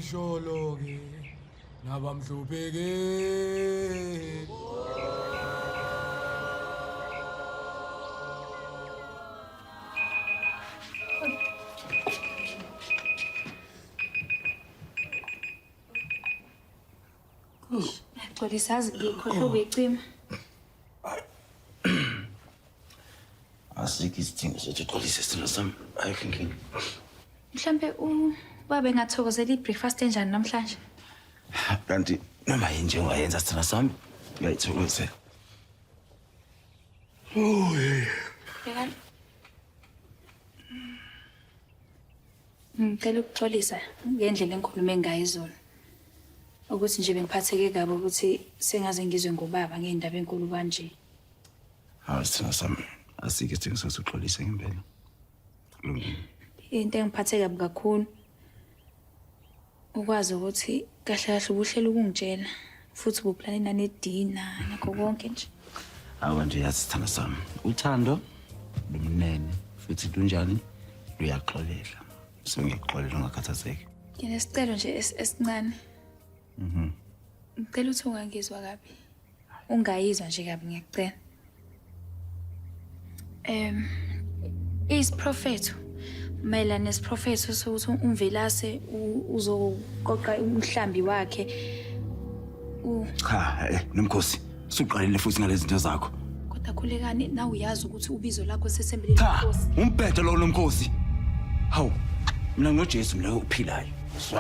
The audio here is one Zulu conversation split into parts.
Sholoke nabamhlupheke Ngixolisa azi ngikhohle ukuyicima. Asikho isidingo sokuthi uxolise isithando sami. Ayikho inkinga. Mhlampe ubaba engathokozela i-breakfast enjani namhlanje? Kanti noma yini nje ungayenza sithando sami uyayithokozela. Bhekani. Ngicela ukuxolisa ngendlela engikhulume ngayo izolo ukuthi nje bengiphatheke kabi ukuthi sengaze ngizwe ngobaba ngey'ndaba enkulu kanje hawu sithina sami asike sithina sasixolise ngempela lungile into engiphathe kabi kakhulu Ukwazi ukuthi kahle kahle ubuhlela ukungitshela futhi buplane nanedina nakho konke nje. Awa nje yazi sithando sami. Uthando lumnene futhi lunjani luyaxolela. So ngiyakuxolela ungakhathazeki. Nginesicelo nje esincane. Mhm. Ngicela uthi ungangizwa kabi. Ungayizwa nje kabi ngiyakucela. Em isiprofetho mayelana nesiprofetho sokuthi umvelase uzoqoqa umhlambi wakhe u Cha, eh, nomkhosi. Suqalile futhi ngalezi zinto zakho. Kodwa khulekani na uyazi ukuthi ubizo lakho sesembeleni Cha, inkosi. umbhedo lo nomkhosi. Hawu, mina ngoJesu mina ophilayo.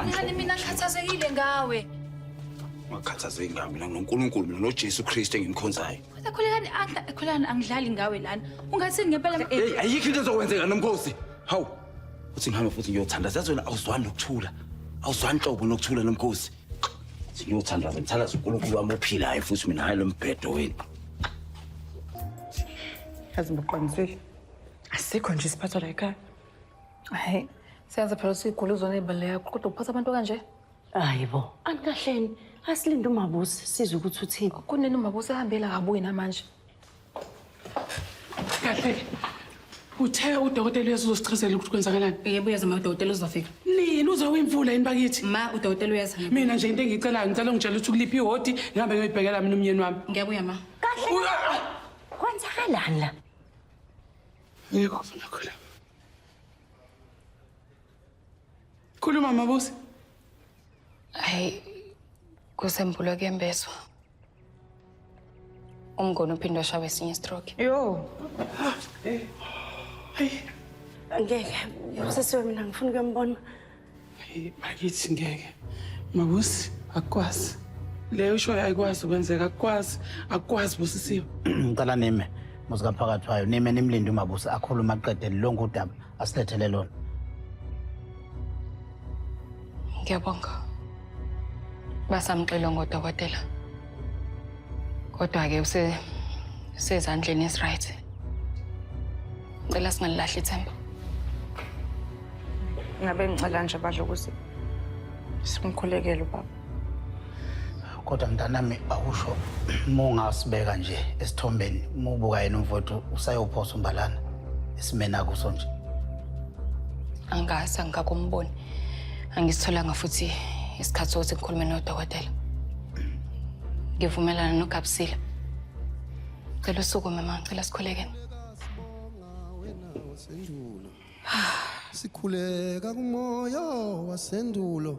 Ngani mina ngikhathazekile ngawe. ungakhathazeki ngami mina nginonkulunkulu mina nojesu kristu engimkhonzayo ekhulekani anga- ekhulekani angidlali ngawe lana ungathini ngempela ma- Hey, ayikho into ezokwenzeka nomkhosi hawu uthi ngihambe futhi ngiyothandaza yazi wena awuzwani nokuthula awuzwani nhlobo nokuthula nomkhosi Uthi ngiyothandaza ngithandaza unkulunkulu wami ophilayo futhi mina hhayi lo mbhedo wenu yazi ngibuqinisile asikho nje isiphatho la ekhaya hayi siyazi phela sigula uzona ibale yakho kodwa uphatha abantu kanje hayi bo anikahleni asilinde umabusi sizwe ukuthi uthini kunini umabusi ehambela kabuyi namanje kahle uthe udokotela uyezo uzosichazela ukuthi kwenzakalani yebo uyazi ma udokotela uzofika nini uzowimvula yini bakithi ma udokotela uyazi mina nje into engiyicelayo ngicela ungitshela ukuthi kuliphi ihodi ngihambe ngiyoyibhekela mina umyeni wami ngiyabuya ma kahle kwenzakalani la yebo ngakho la Khuluma mabusi. Hayi kusembulo kuyembeswa. Umngoni uphinde washawa esinye stroke. Yo. Eh. Hayi. Ngeke. Usesiwe mina ngifuna ukuyambona. Hayi bakithi ngeke. Mabusi akwazi. Leyo show ayikwazi ukwenzeka akwazi akwazi busisiwe. Ngicela nime. Musika mphakathi wayo nime nimlinde umabusa akhuluma aqede lonke udaba asilethele lona. Ngiyabonga. Basamxilo ngodokotela. Kodwa ke use sezandleni is right. Ngicela singalilahli ithemba. Ngabe ngicela nje badla ukuthi simkhulekele ubaba. kodwa mntanami awusho uma ungasibeka nje esithombeni uma ubuka yena umfowethu usayophosa umbalana esimeni akuso nje angikaze angikakumboni angisitholanga futhi isikhathi sokuthi ngikhulume nodokotela ngivumelana nogabusile cela usuku mama ngicela sikhulekeni sikhuleka kumoya wasendulo